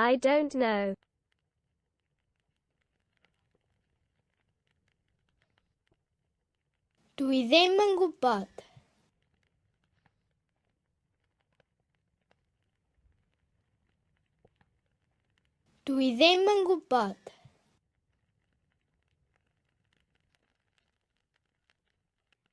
I don't know. Dwi ddim yn gwybod. Dwi ddim yn gwybod.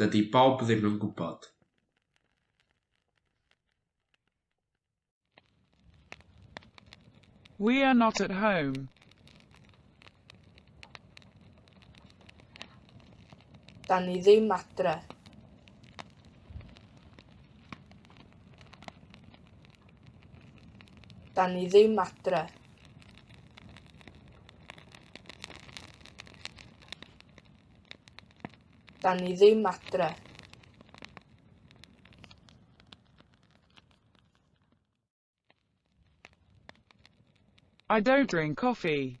Dydy Bob ddim yn gwybod. We are not at home. Da ni ddim adre. Da ni ddim adre. Da ni ddim adre. I don't drink coffee.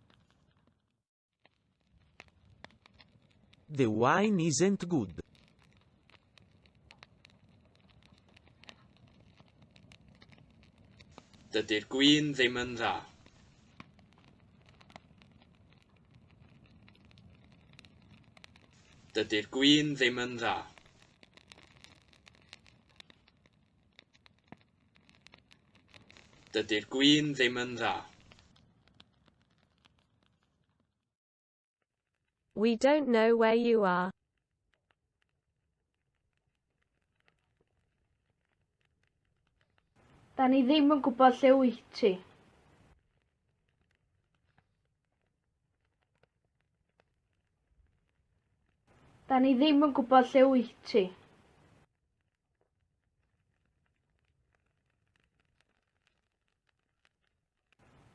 The wine isn't good. Dydy'r gwin ddim yn dda. Dydy'r gwin ddim yn dda. Dydy'r gwin ddim yn dda. We don't know where you are. Da ni ddim yn gwybod lle wyt ti. Da ni ddim yn gwybod lle wyt ti.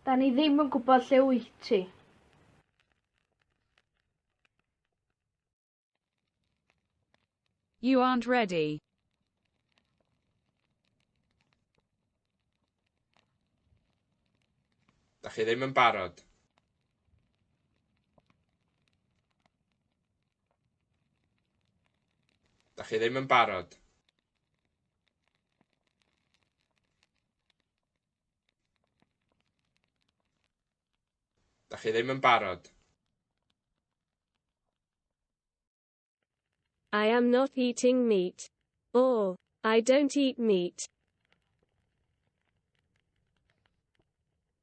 Da ni ddim yn gwybod lle wyt ti. You aren't ready. Da chi ddim yn barod. Da chi ddim yn barod. Da chi ddim yn barod. I am not eating meat. Or, I don't eat meat.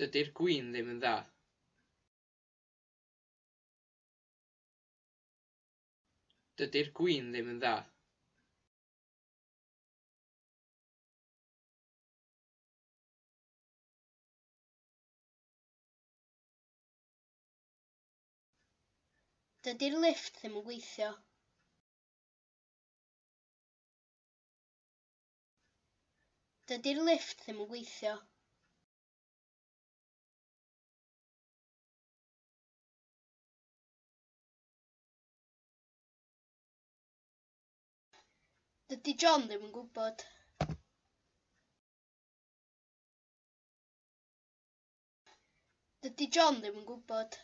Dydi'r gwin ddim yn dda. Dydi'r gwin ddim yn dda. Dydy'r lifft ddim yn gweithio. Dydy'r lifft ddim yn gweithio. Dydy John ddim yn gwybod. Dydy John ddim yn gwybod.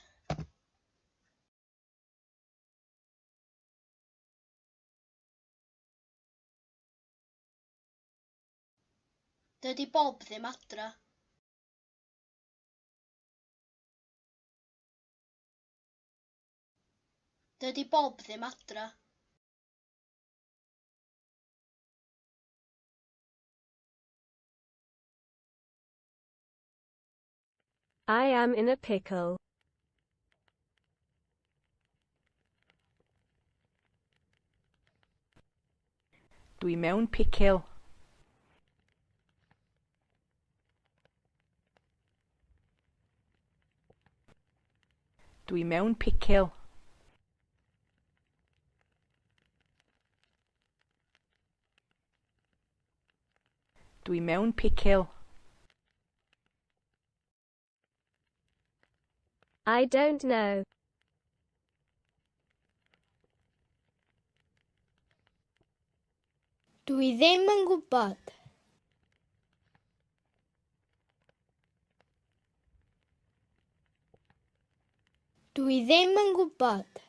Dydy Bob ddim adra. Dydy Bob ddim adra. I am in a pickle. Dwi mewn picil. Dwi mewn picil. Dwi mewn picil. I don't know. Dwi ddim yn gwybod. Dwi ddim yn gwybod.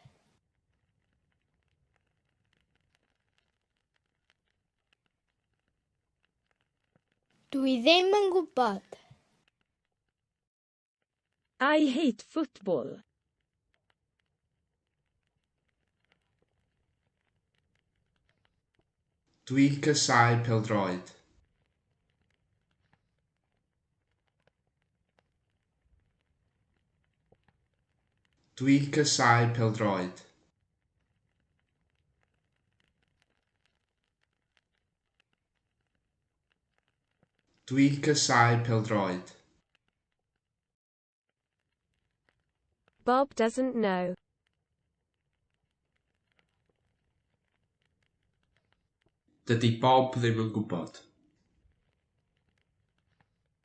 Dw i ddim yn gwybod. I hate football. Dwi casáu peldroed. Dwi casáu peldroed. Dwi casau peldroed. Bob doesn't know. Dydy Bob ddim yn gwybod.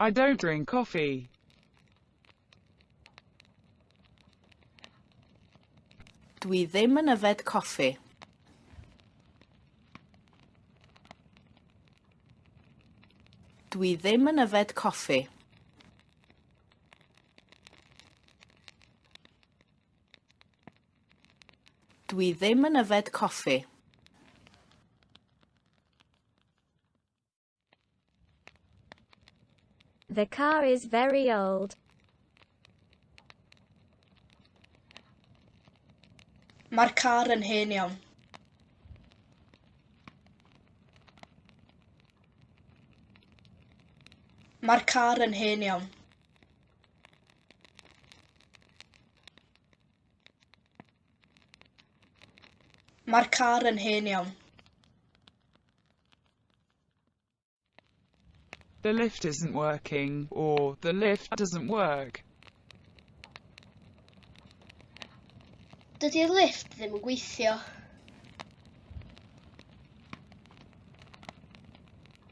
I don't drink coffee. Dwi ddim yn yfed coffi. Dwi ddim yn yfed coffi. Dw i ddim yn yfed coffi. The car is very old. Mae'r car yn hen iawn. Mae'r car yn hen iawn. Mae'r car yn hen iawn. The lift isn't working, or the lift doesn't work. Dydy'r lift ddim yn gweithio.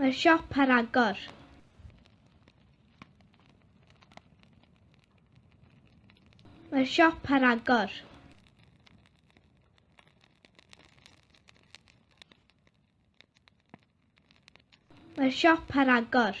Mae'r siop ar agor. Mae'r siop ar agor. Mae'r siop ar agor.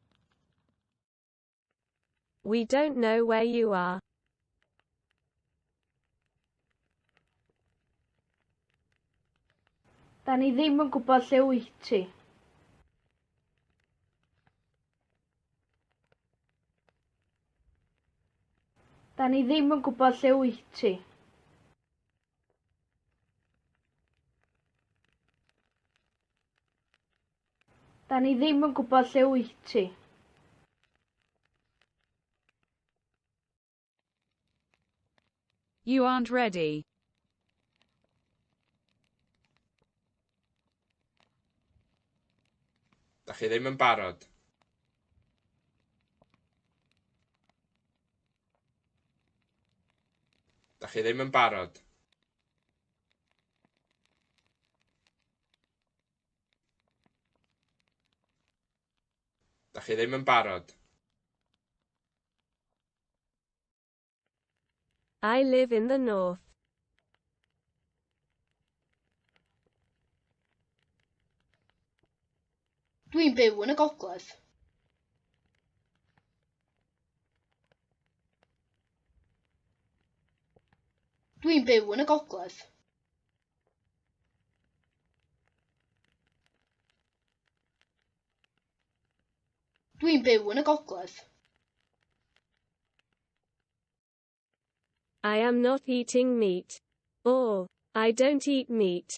We don't know where you are. Da ni ddim yn gwybod lle wyt ti. Da ni ddim yn gwybod lle wyt ti. Da ni ddim yn gwybod lle wyt ti. You aren't ready. Da chi ddim yn barod. Da chi ddim yn barod. Da chi ddim yn barod. I live in the north. Dwi'n byw yn y gogledd. Dwi'n byw yn y gogledd. Dwi'n byw yn y gogledd. I am not eating meat. Or, I don't eat meat.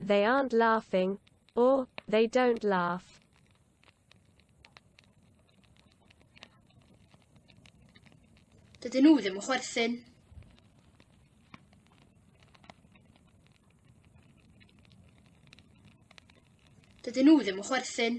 They aren't laughing, or they don't laugh. Dydyn nhw ddim yn chwerthin. Dydyn nhw ddim yn chwerthin.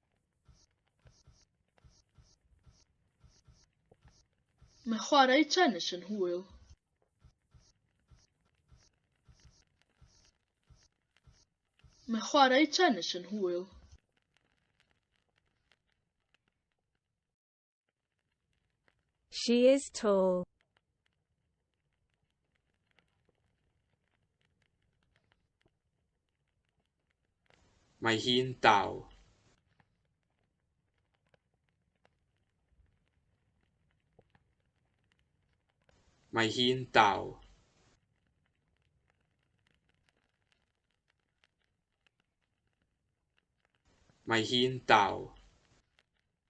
Mae chwarae tenis yn hwyl. Mae chwarae tenis yn hwyl. She is tall. Mae hi'n dal. Mae hi'n dal. Mae hi'n dal.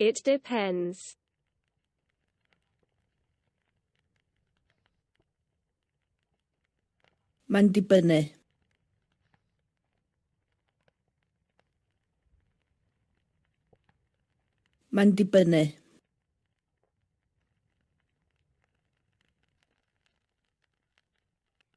It depends. Mae'n dibynnu. Mae'n dibynnu.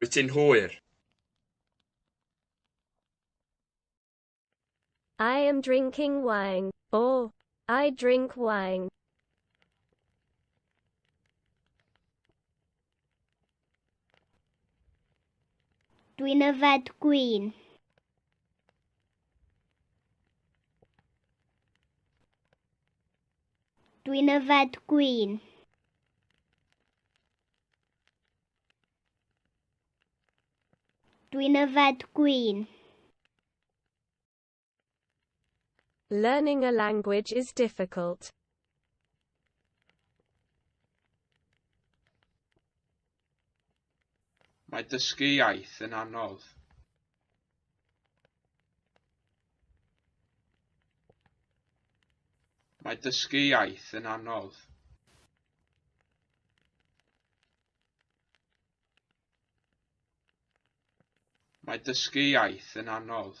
Wyt ti'n hwyr? I am drinking wine. O, I drink wine. Dwi'n yfed gwyn. Dwi'n yfed gwyn. Dwi'n yfed gwyn. Learning a language is difficult. Mae dysgu iaith yn anodd. Mae dysgu iaith yn anodd. Mae dysgu iaith yn anodd.